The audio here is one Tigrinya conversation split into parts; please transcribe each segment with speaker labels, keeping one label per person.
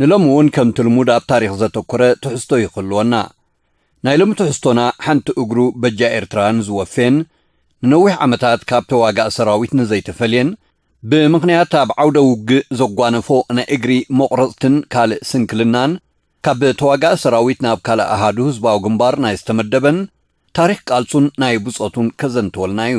Speaker 1: ንሎሚ እውን ከምቲ ልሙድ ኣብ ታሪኽ ዘተኮረ ትሕዝቶ እዩ ክህልወና። ናይ ሎሚ ትሕዝቶና ሓንቲ እግሩ በጃ ኤርትራ ንዝወፌን ንነዊሕ ዓመታት ካብ ተዋጋኢ ሰራዊት ንዘይተፈልየን ብምኽንያት ኣብ ዓውደ ውግእ ዘጓነፎ ናይ እግሪ መቑረጽትን ካልእ ስንክልናን ካብ ተዋጋኢ ሰራዊት ናብ ካልእ ኣሃዱ ህዝባዊ ግንባር ናይ ዝተመደበን ታሪኽ ቃልሱን ናይ ብጾቱን ከዘንትወልና እዩ።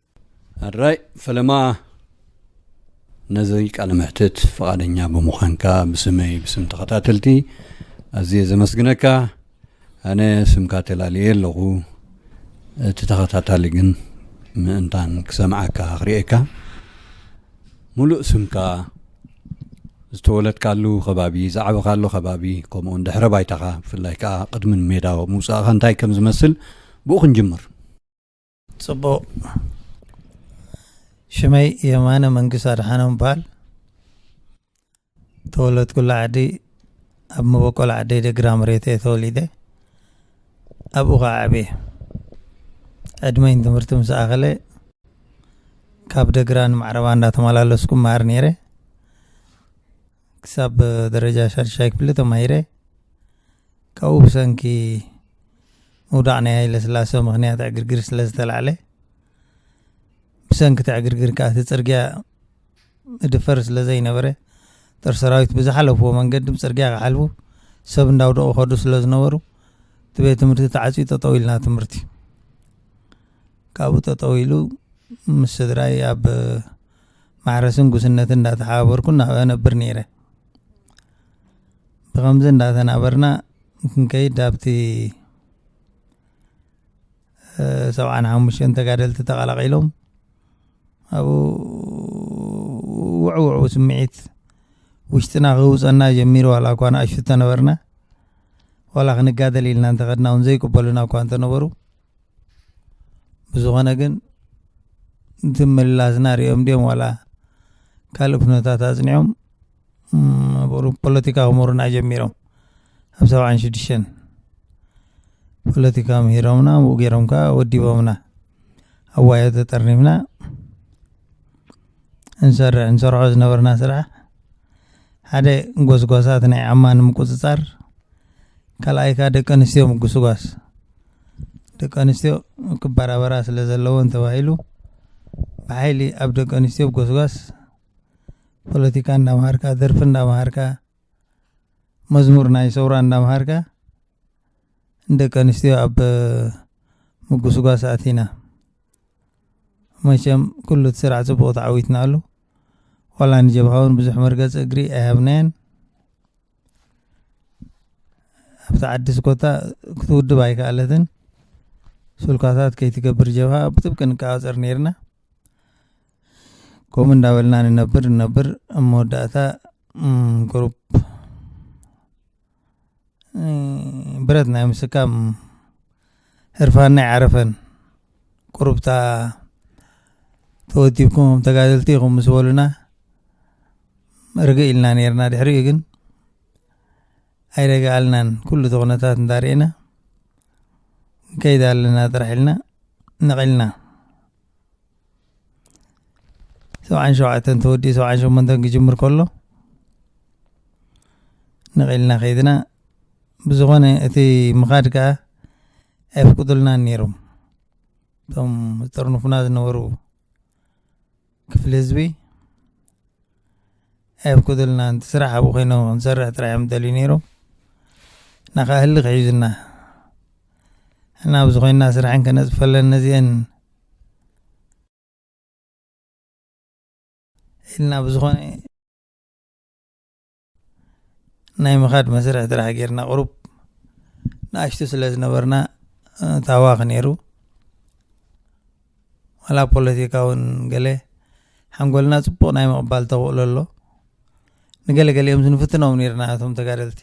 Speaker 1: ኣድራይ ፈለማ ነዚ ቃለ መሕትት ፍቓደኛ ብምዃንካ ብስመይ ብስም ተኸታተልቲ ኣዝየ ዘመስግነካ ኣነ ስምካ ተላልየ ኣለኹ እቲ ተኸታታሊ ግን ምእንታን ክሰምዓካ ክርእየካ ሙሉእ ስምካ ዝተወለድካሉ ከባቢ ዝዓበኻሉ ከባቢ ከምኡውን ድሕረ ባይታኻ ብፍላይ ከዓ ቅድሚ ሜዳ ምውፃእኻ እንታይ ከም ዝመስል ብኡ ክንጅምር
Speaker 2: ፅቡቕ ሽመይ የማነ መንግስት ኣድሓኖም በሃል ተወለድኩላ ዓዲ ኣብ መበቆል ዓደይ ደግራ መሬት እየ ተወሊደ ኣብኡ ከዓ ዓብየ ዕድመይን ትምህርቲ ምስ ኣኸለ ካብ ደግራ ንማዕረባ እንዳተመላለስኩ መሃር ነይረ ክሳብ ደረጃ ሻድሻይ ክፍሊ ተማሂረ ካብኡ ብሰንኪ ምውዳቕ ናይ ሃይለ ስላሰ ምክንያት ዕግርግር ስለ ዝተላዕለ ብሰንኪ እቲ ዕግርግር ከዓ እቲ ፅርግያ ምድፈር ስለ ዘይነበረ ጦር ሰራዊት ብዝሓለፍዎ መንገዲ ብፅርግያ ክሓልፉ ሰብ እንዳውደቑ ከዱ ስለ ዝነበሩ እቲ ቤት ትምህርቲ ተዓፅዩ ጠጠው ኢልና ትምህርቲ ካብኡ ጠጠው ኢሉ ምስ ስድራይ ኣብ ማሕረስን ጉስነትን እንዳተሓባበርኩ ናብኣ እነብር ነይረ። ብኸምዚ እንዳተናበርና ክንከይድ ኣብቲ ሰብዓን ሓሙሽተን ተጋደልቲ ተቐላቒሎም ኣብኡ ውዕውዑ ስምዒት ውሽጥና ክህውፀና ጀሚሩ ዋላ እኳ ንኣሽቱ ተነበርና ዋላ ክንጋደል ኢልና እንተኸድና እውን ዘይቅበሉና እኳ እንተነበሩ ብዝኾነ ግን እቲ ምላስና ሪኦም ድዮም ዋላ ካልእ ኩነታት ኣፅኒዖም ፖለቲካ ክምህሩና ጀሚሮም ኣብ ሰብዓን ሽዱሽተን ፖለቲካ ምሂሮምና ምኡ ገይሮም ከዓ ወዲቦምና ኣዋዮ ተጠርኒፍና እንሰርሕ እንሰርሖ ዝነበርና ስራሕ ሓደ ጎስጓሳት ናይ ዓማ ንምቁፅፃር ካልኣይካ ደቂ ኣንስትዮ ምጉስጓስ ደቂ ኣንስትዮ ክበራበራ ስለ ዘለወን ተባሂሉ ብሓይሊ ኣብ ደቂ ኣንስትዮ ጎስጓስ ፖለቲካ እንዳምሃርካ ደርፊ እንዳምሃርካ መዝሙር ናይ ሰውራ እንዳምሃርካ ንደቂ ኣንስትዮ ኣብ ምጉስጓስ ኣቲና መቸም ኩሉ እቲ ስራሕ ፅቡቅ ተዓዊትናሉ ዋላ ንጀብሃ እውን ብዙሕ መርገፂ እግሪ ኣይሃብናየን ኣብቲ ዓዲ ስኮታ ክትውድብ ኣይከኣለትን ስልኳታት ከይትገብር ጀብሃ ብጥብቂ ንቃወፀር ነይርና ከምኡ እንዳበልና ንነብር ንነብር ኣብ መወዳእታ ቁሩብ ብረት ናይ ምስካም ህርፋናይ ዓረፈን ቁሩብታ ተወዲብኩም ተጋደልቲ ኢኹም ምስ በሉና ርግእ ኢልና ነርና ድሕሪኡ ግን ኣይረግኣልናን ኩሉ እቲ ኩነታት እንዳርእና ንከይድ ኣለና ጥራሕ ኢልና ነቒልና ሰብዓን ሸውዓተን ተወዲኡ ሰብዓን ሸሞንተን ክጅምር ከሎ ነቒልና ከይድና ብዝኾነ እቲ ምኻድ ከዓ ኣይፍቅዱልናን ነይሮም እቶም ዝጥርንፉና ዝነበሩ ክፍሊ ህዝቢ ኣይፍቅዱልናን እቲ ስራሕ ኣብኡ ኮይኖ ክንሰርሕ ጥራሕ እዮም ደልዩ ነይሮም እና ከዓ ህሊ ክሒዙና እና ኣብዚ ኮይና ስራሕን ከነፅፈለን ነዚአን ኢልና ብዝኾነ ናይ ምኻድ መስርሕ ጥራሕ ጌርና ቅሩብ ንኣሽቱ ስለ ዝነበርና ታዋኽ ነይሩ ዋላ ፖለቲካ እውን ገለ ሓንጎልና ፅቡቕ ናይ ምቕባል ተኽእሎ ኣሎ ንገለ ገሊኦም ዝንፍትኖም ነርና እቶም ተጋደልቲ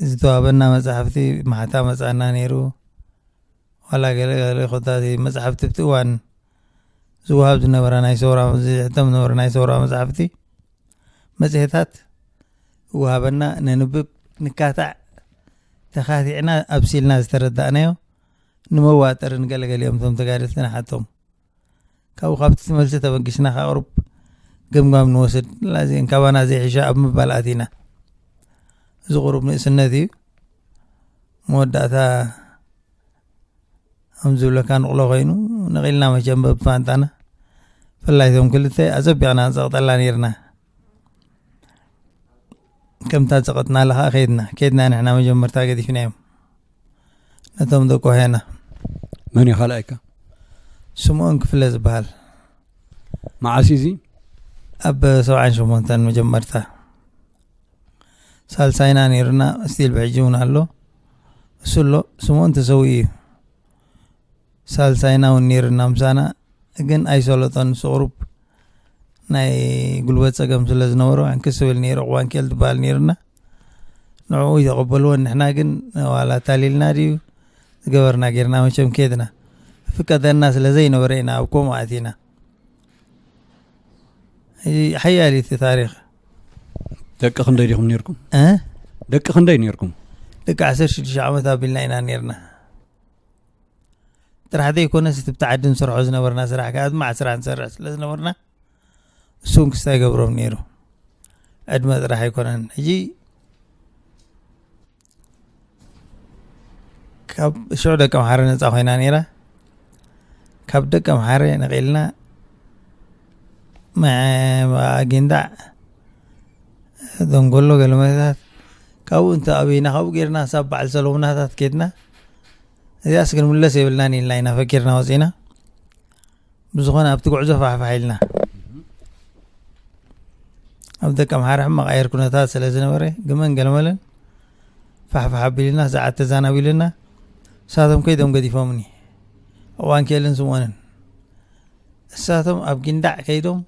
Speaker 2: ዝተዋበና መፅሓፍቲ ማሕታ መፃና ነይሩ ዋላ ገለ ገለ ኮታ መፅሓፍቲ ብቲ እዋን ዝወሃብ ዝነበረ ናይ ሰውራ ዝሕተም ዝነበረ ናይ ሰውራ መጻሕፍቲ መጽሔታት ይወሃበና ነንብብ ንካታዕ ተኻቲዕና ኣብሲልና ዝተረዳእናዮ ንመዋጠሪ ንገለገሊኦም እቶም ተጋደልቲ ንሓቶም ካብኡ ካብቲ ትመልሲ ተበጊስና ካቕርብ ገምጋም ንወስድ ላዚን ካባና ዘይሕሻ ኣብ ምባል ኣቲና እዚ ቁሩብ ንእስነት እዩ መወዳእታ ከም ዝብለካ ንቕሎ ኮይኑ ነቒልና መቸም በብፋንጣና ብፍላይ እዞም ክልተ ኣጸቢቕና ንጸቕጠላ ነርና ከምታ ጸቐጥናላ ከዓ ከይድና ከይድና ንሕና መጀመርታ ገዲፍናዮም ነቶም ደቆ ሄና መን እዩ
Speaker 1: ካልኣይካ
Speaker 2: ስምኦን ክፍለ ዝበሃል
Speaker 1: መዓስ እዚ ኣብ
Speaker 2: ሰብዓን ሸሞንተን መጀመርታ ሳልሳይና ነይሩና ስቲል ብሕጂ እውን ኣሎ እሱ ኣሎ ስምኦን ተሰዊኡ እዩ ሳልሳይና እውን ነይርና ምሳና ግን ኣይሰለጦን እሱ ቁሩብ ናይ ጉልበት ፀገም ስለ ዝነበሮ ዕንክስ ዝብል ነይሩ ዕቁባንኬል ትበሃል ነይርና ንዕኡ ይተቐበልዎ ንሕና ግን ዋላ ታሊልና ድዩ ዝገበርና ጌርና መቸም ከድና ፍቀደና ስለ ዘይነበረ ኢና ኣብ ከምኡ ኣቲና ሓያል እቲ ታሪክ
Speaker 1: ደቂ ክንደይ ዲኹም ነርኩም ደቂ ክንደይ ነርኩም ደቂ ዓሰርተ
Speaker 2: ሽዱሽተ ዓመት ኣቢልና ኢና ነርና ጥራሕ ዘይኮነስ እቲ ብታዓዲ ንሰርሖ ዝነበርና ስራሕ ከዓ ድማ ዓስራ ንሰርሕ ስለ ዝነበርና እሱ እውን ክስታ ይገብሮም ነይሩ ዕድመ ጥራሕ ኣይኮነን ሕጂ ካብ ሽዑ ደቂ ኣምሓረ ነፃ ኮይና ነይራ ካብ ደቂ ኣምሓረ ነቂልና ኣጊንዳ ደንጎሎ ገለመታት ካብኡ እንተ ኣብና ካብኡ ጌርና ሳብ በዓል ሰለሙናታት ኬድና እዚኣስ ክንምለስ የብልናን ኢልና ኢና ፈኪርና ወፂና ብዝኾነ ኣብቲ ጉዕዞ ፋሕፋሕ ኢልና ኣብ ደቂ ኣምሓራ ሕማቕ ኣየር ኩነታት ስለ ዝነበረ ግመን ገለመለን ፋሕፋሕ ኣቢሉና ሰዓት ተዛናቢሉና እሳቶም ከይዶም ገዲፎምኒ እዋን ክኤልን ስምኦንን እሳቶም ኣብ ጊንዳዕ ከይዶም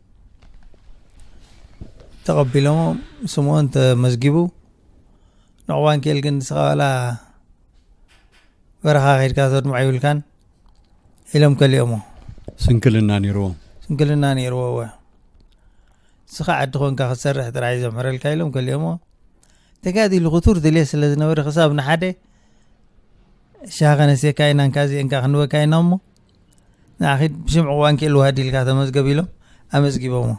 Speaker 2: ተቐቢሎሞ ስምኦን ተመዝጊቡ ንዕዋን ክኤል ግን ንስኻ ዋላ በረኻ ከይድካ ተድምዖ ይብልካን ኢሎም ከሊኦሞ ስንክልና
Speaker 1: ነይርዎ ስንክልና ነይርዎ ወ ንስኻ ዓዲ ኮንካ ክትሰርሕ ጥራይ ዘምሕረልካ ኢሎም ከሊኦሞ ተጋዲሉ ክቱር ድልየ ስለ ዝነበረ ክሳብ ንሓደ ሻሃ ከነስየካ ኢና እንካ እዚአንካ ክንበካ ኢና እሞ ንዓኺድ ብሽም ዕዋን ክኢልዋ ድልካ ተመዝገብ ኢሎም ኣመዝጊቦሞ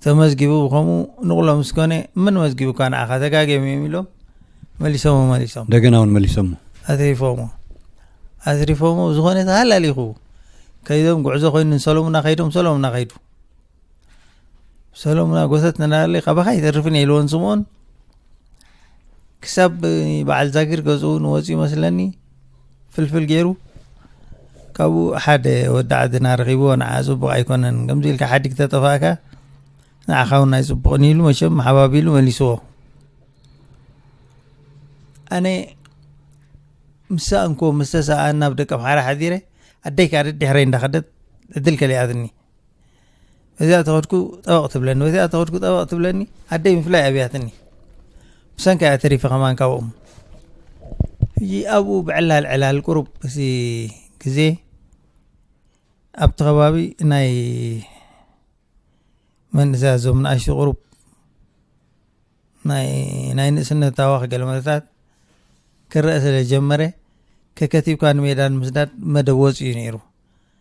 Speaker 1: ተመዝጊቡ ብከምኡ ንቕሎ ምስ ኮነ መን መዝጊቡካ ንዓኻ ተጋጊዮም እዮም ኢሎም መሊሶሞ መሊሶም እንደገና እውን መሊሶሞ ኣትሪፎሞ ኣትሪፎሞ
Speaker 2: ዝኾነ ተሃላሊኹ ከይዶም ጉዕዞ ኮይኑ ንሰሎሙና ከይዶም ሰሎሙና ከይዱ ሰሎሙና ጎተት ንናለይ ካባኻ ይተርፍን የልዎን ስምኦን ክሳብ በዓል ዛጊር ገዝኡ ንወፅኡ መስለኒ ፍልፍል ገይሩ ካብኡ ሓደ ወዲ ዓድና ረኺብዎ ንዓ ፅቡቕ ኣይኮነን ከምዚ ኢልካ ሓዲግ ተጠፋእካ ንዓኻ እውን ናይ ፅቡቕን ኢሉ መቸም ሓባቢሉ መሊስዎ ኣነ ምስ ሰኣንኩዎ ምስ ተሰኣኣና ኣብ ደቀምሓረ ሓዲረ ኣደይ ከዓ ደድሕረይ እንዳኸደት ዕድል ከሊኣትኒ እዚኣ ተኸድኩ ጠበቕ ትብለኒ ወይ እዚኣ ተኸድኩ ጠበቕ ትብለኒ ኣደይ ምፍላይ ኣብያትኒ ብሰንካ እያ ተሪፈ ከማን ካብኦም ሕጂ ኣብኡ ብዕላል ዕላል ቁሩብ እዚ ግዜ ኣብቲ ከባቢ ናይ መንእሰያ ዞም ንኣሽቱ ቁሩብ ናይ ንእስነት ሃዋኽ ገለ መለታት ክረአ ስለ ጀመረ ከከቲብካ ንሜዳ ንምስዳድ መደብ ወፂኡ ነይሩ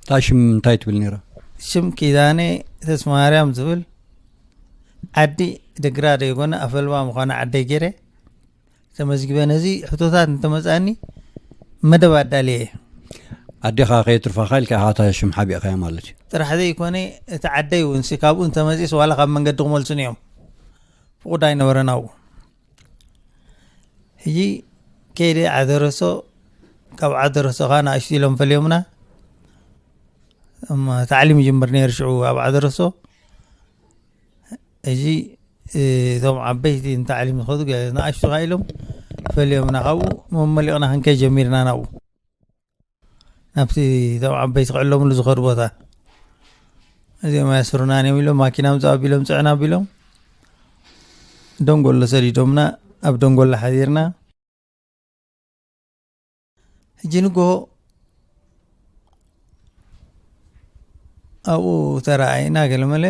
Speaker 2: እታ
Speaker 1: ሽም እንታይ ትብል ነይራ ሽም ኪዳነ
Speaker 2: ተስማርያም ዝብል ዓዲ ደግራ ደይኮነ ኣፈልባ ምዃኑ ዓደይ ገይረ ተመዝጊበ ነዚ ሕቶታት እንተመፃኒ መደብ ኣዳልየ ኣዴኻ
Speaker 1: ከየትርፋኻ ኢልካ ኢኻ እታ ሽም ሓቢእኻያ ማለት እዩ ጥራሕ ዘይኮነ
Speaker 2: እቲ ዓደይ እውን ካብኡ እንተመፅስ ዋላ ካብ መንገዲ ክመልሱን እዮም ፍቑድ ኣይነበረን ኣብኡ ሕጂ ከይደ ዓደረሶ ካብ ዓደረሶ ከዓ ንኣሽቱ ኢሎም ፈልዮምና እሞ ታዕሊም ይጅምር ነይሩ ሽዑ ኣብ ዓደረሶ ሕጂ እቶም ዓበይቲ ንታዕሊም ዝኸዱ ገለ ንኣሽቱ ከዓ ኢሎም ፈልዮምና ካብኡ መመሊቕና ክንከይድ ጀሚርና ናብኡ ናብቲ እቶም ዓበይቲ ክዕለምሉ ዝኸዱ ቦታ እዚኦም ኣያስሩናን እዮም ኢሎም ማኪና ምፅ ኣቢሎም ፅዕና ኣቢሎም ደንጎሎ ሰዲዶምና ኣብ ደንጎሎ ሓዲርና ሕጂ ንግሆ ኣብኡ ተረኣይና ገለመለ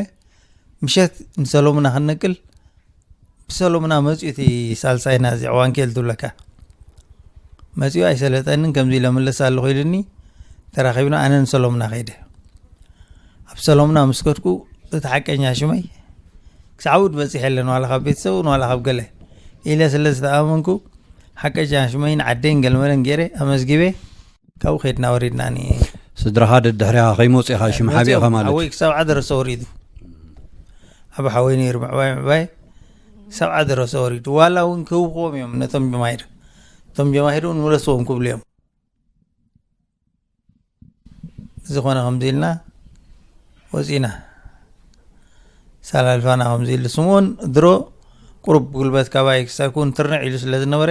Speaker 2: ምሸት ንሰሎሙና ክንነቅል ብሰሎሙና መፅኡ እቲ ሳልሳይና እዚ ዕዋንኬል ትብለካ መፅኡ ኣይሰለጠንን ከምዚ ኢለ መለስ ኣለኹ ኢሉኒ ተራኺብና ኣነ ንሰሎሙና ከይደ ኣብ ሰሎሙና ምስ ከድኩ እቲ ሓቀኛ ሽመይ ክሳዕ ውድ በፂሐ ኣለ ንዋላ ካብ ቤተሰብ ንዋላ ካብ ገለ ኢለ ስለ ዝተኣመንኩ ሓቀኛ ሽመይን ዓደይን ገልመለን ገይረ ኣመዝጊበ ካብኡ ከድና ወሪድና ስድራኻ
Speaker 1: ደድሕሪኻ ከይመፁ ኢኻ ሽም ሓቢእኻ ማለት ሓወይ ክሳብ ዓደረሰ
Speaker 2: ወሪዱ ኣብ ሓወይ ነይሩ ምዕባይ ምዕባይ ክሳብ ዓደረሰ ወሪዱ ዋላ እውን ክህብክዎም እዮም ነቶም ጀማሂር እቶም ጀማሂር እውን ምለስዎም ክብሉ እዮም ዝኾነ ከምዚ ኢልና ወፂና ሳላልፋና ከምዚ ኢሉ ስምኦን ድሮ ቁሩብ ጉልበት ካባይ ክሳብ ክውን ትርንዕ ኢሉ ስለ ዝነበረ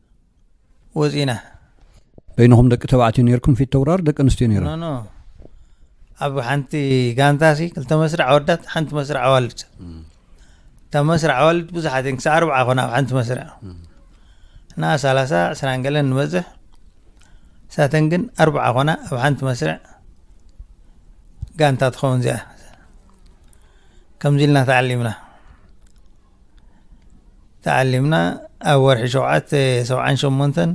Speaker 2: ወፂና በይንኹም
Speaker 1: ደቂ ተባዕትዮ ነርኩም ፊት ተውራር ደቂ ኣንስትዮ ነረ ኣብ
Speaker 2: ሓንቲ ጋንታ ሲ ክልተ መስርዕ ኣወዳት ሓንቲ መስርዕ ኣዋልድ እታ መስርዕ ኣዋልድ ብዙሓት እየን ክሳዕ ኣርብዓ ኮና ኣብ ሓንቲ መስርዕ እና ሰላሳ ዕስራን ገለን ንበዝሕ ሳተን ግን ኣርብዓ ኮና ኣብ ሓንቲ መስርዕ ጋንታ ትኸውን እዚኣ ከምዚ ኢልና ተዓሊምና ተዓሊምና ኣብ ወርሒ ሸውዓተ ሰብዓን ሸሞንተን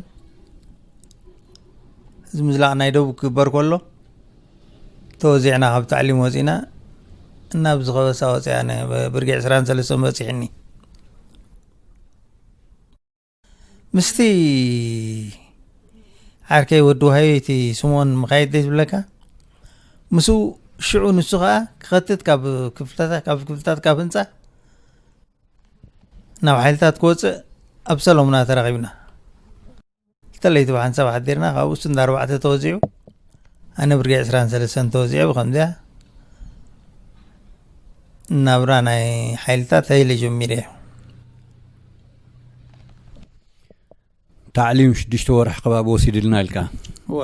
Speaker 2: እዚ ምዝላቕ ናይ ደቡብ ክግበር ከሎ ተወዚዕና ካብ ታዕሊም ወፂና እናብ ዝኸበሳ ወፅያ ብርጌ ዕስራን ሰለስተን በፂሕኒ ምስቲ ዓርከይ ወዲ ዋሃዮ እቲ ስምኦን ምካየድ ደይ ዝብለካ ምስኡ ሽዑ ንሱ ከዓ ክኸትት ካብ ክፍልታት ካብ ክፍልታት ካብ ህንፃ ናብ ሓይልታት ክወፅእ ኣብ ሰለሙና ተራኺብና ተለይቲ ብሓን ሰብ ሓዲርና ካብኡ ስንዳ ኣርባዕተ ተወዚዑ ኣነ ብርጌ ዕስራን ሰለስተን ተወዚዑ ብከምዚያ ናብራ ናይ ሓይልታት ሃይለ ጀሚረ እዩ
Speaker 1: ታዕሊም ሽዱሽተ ወርሒ ከባቢ ወሲድልና ኢልካ
Speaker 2: እወ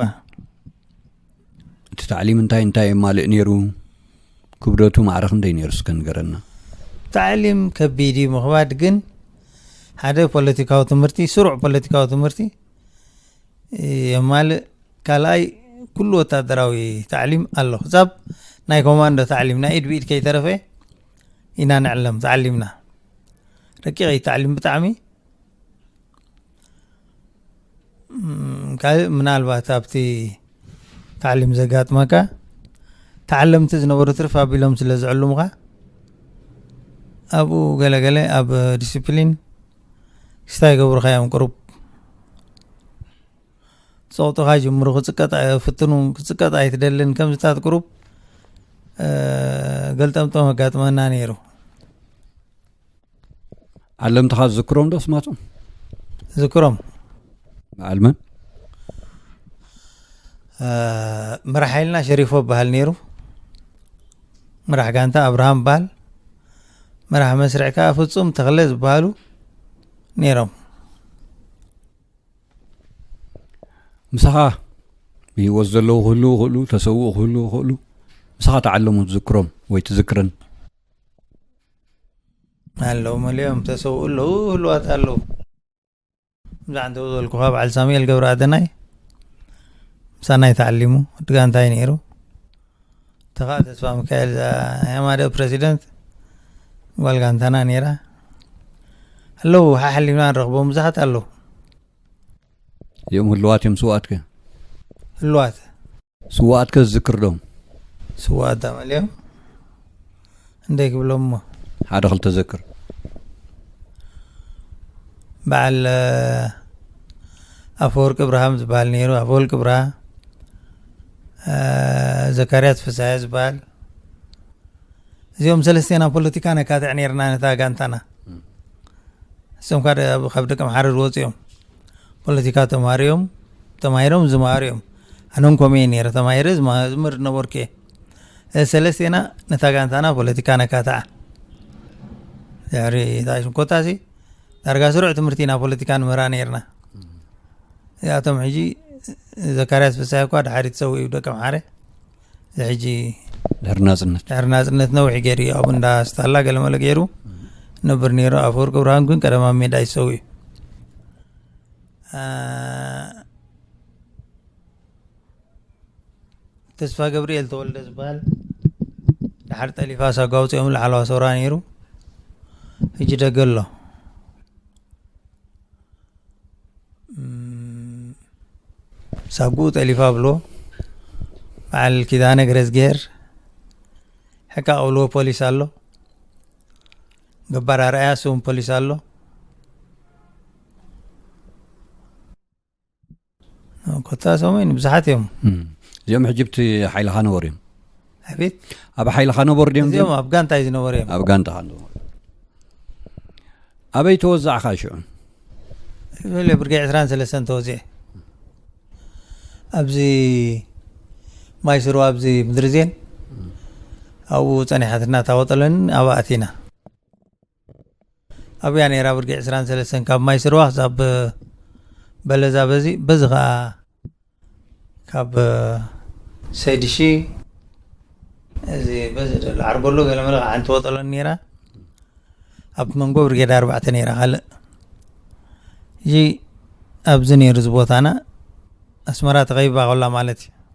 Speaker 2: እቲ
Speaker 1: ታዕሊም እንታይ እንታይ የማልእ ነይሩ ክብደቱ ማዕረ ክንደይ ነይሩ እስከ ንገረና ታዕሊም
Speaker 2: ከቢድ እዩ ምኽባድ ግን ሓደ ፖለቲካዊ ትምህርቲ ስሩዕ ፖለቲካዊ ትምህርቲ የማልእ ካልኣይ ኩሉ ወታደራዊ ታዕሊም ኣሎ ክሳብ ናይ ኮማንዶ ታዕሊም ናይ ኢድ ብኢድ ከይተረፈ ኢና ንዕለም ተዓሊምና ረቂቕ እዩ ታዕሊም ብጣዕሚ ካልእ ምናልባት ኣብቲ ታዕሊም ዘጋጥመካ ተዓለምቲ ዝነበሩ ትርፍ ኣቢሎም ስለ ዝዕልሙኻ ኣብኡ ገለገለ ኣብ ዲስፕሊን ክስታ ይገብሩኻ እዮም ቅሩብ ጸቕጥኻ ጅምሩ ክጽቀጥ ፍትኑ ክጽቀጥ ኣይትደልን ከምዚታት ቅሩብ ገልጠምጠም ኣጋጥመና ነይሩ
Speaker 1: ኣለምትኻ ዝዝክሮም ዶ ስማቶም ዝክሮም በዓልመን ምራሕ
Speaker 2: ሓይልና ሸሪፎ በሃል ነይሩ ምራሕ ጋንታ ኣብርሃም በሃል ምራሕ መስርዕ ከዓ ፍፁም ተክለ ዝበሃሉ ነይሮም
Speaker 1: ምሳኻ ብህይወት ዘለዉ ክህሉ ይኽእሉ ተሰውኡ ክህሉ ይኽእሉ ምሳኻ ተዓለሙ ትዝክሮም ወይ ትዝክረን
Speaker 2: ኣለዉ መሊኦም ተሰውኡ ኣለዉ ህልዋት ኣለዉ ብዛዕባ እንተ ዝበልኩኻ በዓል ሳሙኤል ገብረ ኣደናይ ምሳናይ ተዓሊሙ ድጋ እንታይ ነይሩ እቲኻ ተስፋሚካኤል ያማደ ፕረሲደንት ጓል ጋንታና ነይራ ኣለዉ ሓሓሊፍና ንረኽቦም ብዙሓት ኣለዉ
Speaker 1: እዚኦም ህልዋት እዮም
Speaker 2: ስዋኣትከ
Speaker 1: ህልዋት ስዋኣትከ ዝዝክርዶም ስዋኣት
Speaker 2: ኣመልዮም እንታይ ክብሎም እሞ ሓደ ክልተ
Speaker 1: ዘክር
Speaker 2: በዓል ኣፈወርቂ ብርሃም ዝበሃል ነይሩ ኣፈወርቂ ብርሃ ዘካርያስ ፍሳሐ ዝበሃል እዚኦም ሰለስቴና ፖለቲካ ነካትዕ ነርና ነታ ጋንታና እሶም ካ ካብ ደቂ ምሓረ ዝወፅ እዮም ፖለቲካ ተማሃሩ እዮም ተማሂሮም ዝመሃሩ እዮም ኣነን ኮመ ነረ ተማሂረ ዝምህር ነበርኩ እየ ሰለስቴና ነታ ጋንታና ፖለቲካ ነካትዓ ድሕሪ ታሽኮታሲ ዳርጋ ስሩዕ ትምህርቲ ኢና ፖለቲካ ንምህራ ነርና እዚኣቶም ሕጂ ዘካርያስ ፍሳይ እኳ ድሓሪ ትሰው እዩ ደቂ ምሓረ እዚ ሕጂ ድሕሪ ናፅነት ድሕሪ ናፅነት ነዊሕ ገይሩ እዩ ኣብ እንዳ ስታላ ገለመለ ገይሩ ነብር ነይሩ ኣፈወርቂ ብርሃን ግን ቀደማ ሜዳ ይሰው እዩ ተስፋገብርኤል ተወልደ ዝበሃል ድሓር ጠሊፋስ ኣጓውፂኦም ላዕለዋ ሰውራ ነይሩ ሕጂ ደገ ኣሎ ሳጉኡ ጠሊፋ ብሎ በዓል ኪዳነ ግረዝግሄር ሕቃ ቀብልዎ ፖሊስ ኣሎ ገባር ኣርኣያ ስውን ፖሊስ ኣሎ ኮታ ሰሙን ብዙሓት እዮም እዚኦም
Speaker 1: ሕጅብቲ ሓይልኻ ነበሩ እዮም ኣቤት
Speaker 2: ኣብ ሓይልኻ
Speaker 1: ነበሩ ድዮም እዚኦም ኣብ ጋንታ እዩ ዝነበሩ
Speaker 2: እዮም ኣብ ጋንታ
Speaker 1: ኣበይ ተወዛዕካ ሽዑ
Speaker 2: ዝበለ ብርጌ ዕስራን ሰለስተን ተወዚዐ ኣብዚ ማይ ስሩ ኣብዚ ምድሪ ዜን ኣብኡ ፀኒሓትና ታወጠለኒ ኣብኣ ኣቲና ኣብያ ነራ ብርጌ ዕስራን ሰለስተን ካብ ማይ ስርዋ ክሳብ በለዛ በዚ በዚ ከዓ ካብ ሰይድሺ እዚ በዚ ደሎ ዓርበሎ ገለ መለ ከዓ ሓንቲ ወጠሎ ነራ ኣብ መንጎ ብርጌድ ኣርባዕተ ነራ ካልእ እዚ ኣብዚ ነሩ እዚ ቦታና ኣስመራ ተኸቢባ ከላ ማለት እዩ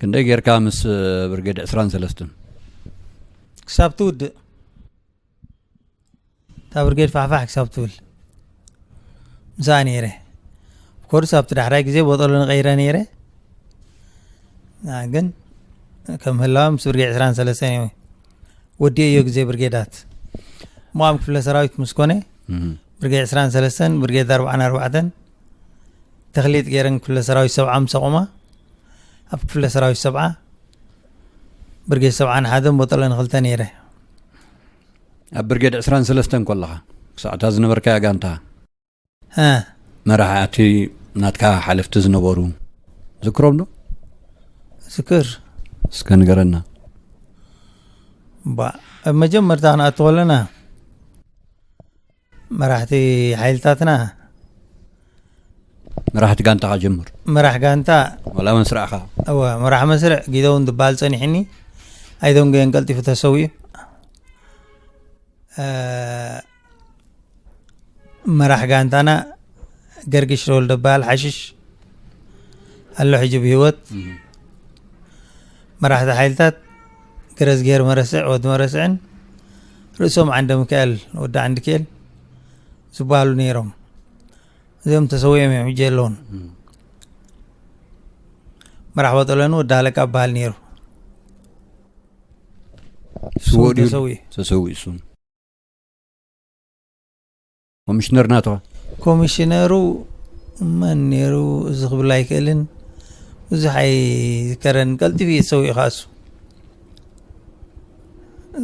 Speaker 1: ክንደይ ጌርካ ምስ ብርጌድ ዕስራን ሰለስትን
Speaker 2: ክሳብ ትውድእ እታ ብርጌድ ፋሕፋሕ ክሳብ ትብል ምስኣ ነይረ ኮርስ ኣብቲ ዳሕራይ ግዜ ቦጠሎ ንቀይረ ነይረ ግን ከም ህላዋ ምስ ብርጌድ ዕስራን ሰለስተን እዩ ወዲኦ እዮ ግዜ ብርጌዳት እሞ ኣብ ክፍለ ሰራዊት ምስ ኮነ ብርጌድ ዕስራን ሰለስተን ብርጌድ ኣርባዓን ኣርባዕተን ተክሊት ገይረን ክፍለ ሰራዊት ሰብዓ ምስ ኣቑማ ኣብ ክፍለ ሰራዊት ሰብዓ ብርጌድ ሰብዓን ሓደን ቦጠለ ንክልተ ነይረ
Speaker 1: ኣብ ብርጌድ ዕስራን ሰለስተን ኮለኻ ክሳዕታ ዝነበርካያ ጋንታ
Speaker 2: መራሕቲ
Speaker 1: ናትካ ሓለፍቲ ዝነበሩ ዝክሮም ዶ
Speaker 2: ዝክር እስከ
Speaker 1: ንገረና
Speaker 2: ባ ኣብ መጀመርታ ክንኣቱ ከለና መራሕቲ ሓይልታትና
Speaker 1: መራሕቲ ጋንታኻ ጀምር መራሕ ጋንታ
Speaker 2: ዋላ መስራዕኻ
Speaker 1: እወ መራሕ መስርዕ
Speaker 2: ጊደውን ዝበሃል ፀኒሕኒ ኣይደንጎየን ቀልጢፉ ተሰዊኡ አ፣ መራሕ ጋንታና ገርግሽ ረወልደ በሃል ሓሽሽ ኣሎ ሕጂ ብሂወት መራሕቲ ሓይልታት ገረዝግሄር መረስዕ ወዲ መረስዕን ርእሶም ዓንደሚካኤል ወዲ ዓንድኬል ዝበሃሉ ነይሮም እዚኦም ተሰዊኦም እዮም ሕጂ የለውን መራሕቦ ጠለኑ ወዲ ሃለቃ በሃል ነይሩ ተሰዊኡ
Speaker 1: ተሰዊኡ እሱም ኮሚሽነር ናቶ ኮሚሽነሩ
Speaker 2: መን ነይሩ እዚ ክብል ኣይክእልን ብዙሕ ኣይዝከረን ቀልጢፍ እየ ዝሰውኡ ይኸኣሱ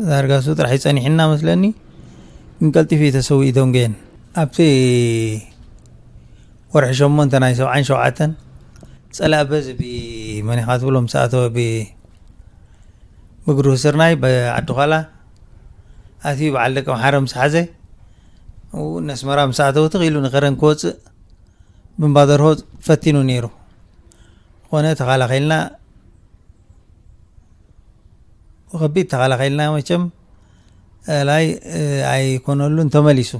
Speaker 2: ዳርጋሱ ጥራሕ ይፀኒሕና መስለኒ ግን ቀልጢፍ እዩ ተሰው ኢዶም ገየን ኣብቲ ወርሒ ሸሞንተ ናይ ሰብዓን ሸውዓተን ፀላእ በዚ ብመን ኢኻ ትብሎ ምስ ኣተወ ብእግሩ ስርናይ ብዓዲ ኋላ ኣትዩ በዓል ደቂ ምሓረ ምስ ሓዘ ኣብኡ ነስመራ ምስ ኣተወ ትኽ ኢሉ ንከረን ክወጽእ ብምባደርሆ ፈቲኑ ነይሩ ዝኾነ ተኸላኺልና ብከቢድ ተኸላኺልና መቸም ላይ ኣይኮነሉን ተመሊሱ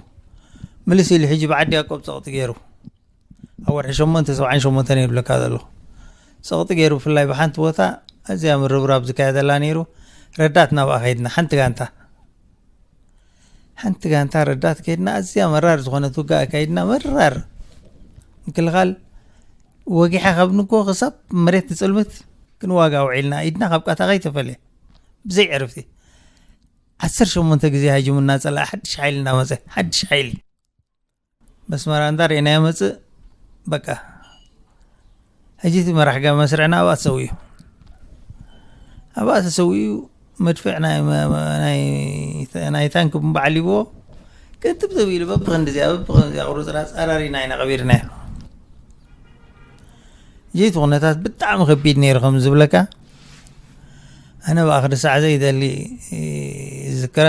Speaker 2: ምልስ ኢሉ ሕጂ ብዓዲ ያቆብ ጸቕጢ ገይሩ ኣብ ወርሒ ሸሞንተ ሰብዓን ሸሞንተን እየ ዝብለካ ዘለኹ ፀቕጢ ገይሩ ብፍላይ ብሓንቲ ቦታ ኣዝያ ምርብራብ ዝካየደላ ነይሩ ረዳት ናብኣ ከይድና ሓንቲ ጋንታ ሓንቲ ጋንታ ረዳት ከይድና ኣዝያ መራር ዝኾነት ውጋ ኣካይድና መራር ምክልኻል ወጊሓ ካብ ንጎ ክሳብ መሬት ትፅልምት ግን ዋጋ ውዒልና ኢድና ካብ ቃታ ከይተፈልየ ብዘይ ዕርፍቲ ዓሰርተ ሸሞንተ ግዜ ሃጅሙና ፀላእ ሓድሽ ሓይሊ እናመፀ ሓድሽ ሓይሊ መስመራ እንዳ ርኢናዮ መፅእ በቃ ሕጂ እቲ መራሕ ጋቢ መስርዕና ኣብኣ ተሰዊኡ ኣብኣ ተሰዊኡ መድፍዕ ናይ ታንክ ብንባ ዓሊብዎ ቅጥብ ዘቢሉ በብክንዲ እዚኣ በብክንዲ እዚኣ ቁርፅራፅ ኣራሪና ኢና ቀቢርናዮ ጀይቲ ኩነታት ብጣዕሚ ከቢድ ነይሩ ከም ዝብለካ ኣነ ብኣኽሪ ሳዕ ዘይደሊ ዝዝክራ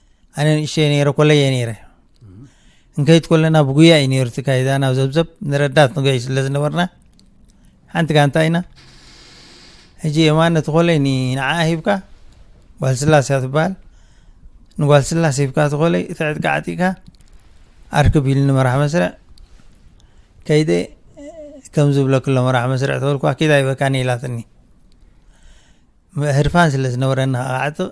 Speaker 2: ኣነ ንእሽተይ ነይረ ኮለይ እየ ነይረ እንከይት ኮለና ብጉያ እዩ ነይሩ ትካይዳ ናብ ዘብዘብ ንረዳት ንገይ ስለ ዝነበርና ሓንቲ ጋንታ ኢና ሕጂ የማን ነቲ ኮለይ ንዓ ሂብካ ጓል ስላስ እያ ትበሃል ንጓል ስላስ ሂብካ እቲ ኮለይ እቲ ዕጥቂ ዓጢቅካ ኣርክብ ኢሉ ንመራሕ መስርዕ ከይደ ከም ዝብለክሎ መራሕ መስርዕ ተበልኳ ኪዳ ይበካኒ ኢላትኒ ህርፋን ስለ ዝነበረኒ ዓጥቕ